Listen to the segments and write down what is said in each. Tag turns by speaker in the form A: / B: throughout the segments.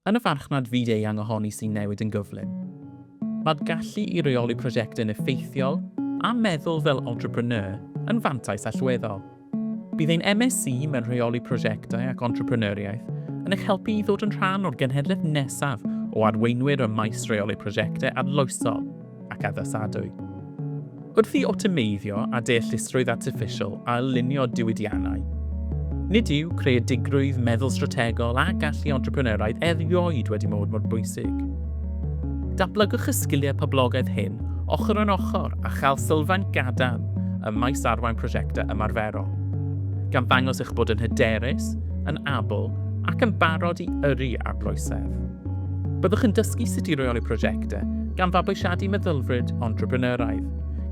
A: yn y farchnad fyd-eang ohoni sy'n newid yn gyflym. Mae'r gallu i reoli prosiectau yn effeithiol a meddwl fel entrepreneur yn fantais allweddol. Bydd ein MSc mewn Rheoli Prosiectau ac Entrepreneuriaeth yn eich helpu i ddod yn rhan o'r genhedlaeth nesaf o arweinwyr ym maes rheoli prosiectau arloesol. ac addasadwy. Wrth i awtomeiddio a deallusrwydd artiffisial ailunio diwydiannau, nid yw creadigrwydd, meddwl strategol a gallu entrepreneuraidd erioed wedi mod mor bwysig. Dablygwch y sgiliau poblogaeth hyn ochr yn ochr a chael sylfaen gadarn ym maes arwain prosiectau ymarferol, gan ddangos eich bod yn hyderus, yn abl ac yn barod i yrru arloesedd. Byddwch yn dysgu sut i reoli prosiectau, gan fabwysiadu meddylfryd entrepreneuraidd,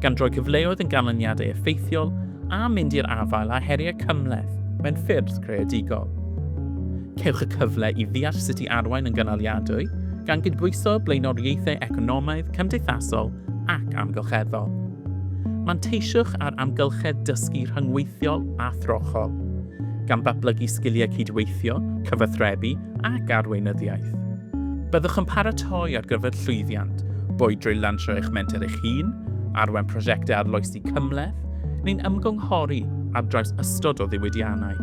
A: gan droi cyfleoedd yn ganlyniadau effeithiol a mynd i'r afael â heriau cymhleth mewn ffyrdd creadigol. Cewch y cyfle i ddeall sut i arwain yn gynaliadwy, gan gydbwyso blaenoriaethau economaidd, cymdeithasol ac amgylcheddol. Manteisiwch ar amgylchedd dysgu rhyngweithiol a throchol. gan ddatblygu sgiliau cydweithio, cyfathrebu ac arweinyddiaeth. Byddwch yn paratoi ar gyfer llwyddiant, boed drwy lansio eich menter eich hun, arwain prosiectau arloesi cymhleth, neu'n ymgynghori ar draws ystod o ddiwydiannau.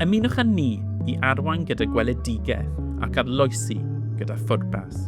A: Ymunwch â ni i arwain gyda gweledigaeth ac arloesi gyda phwrpas.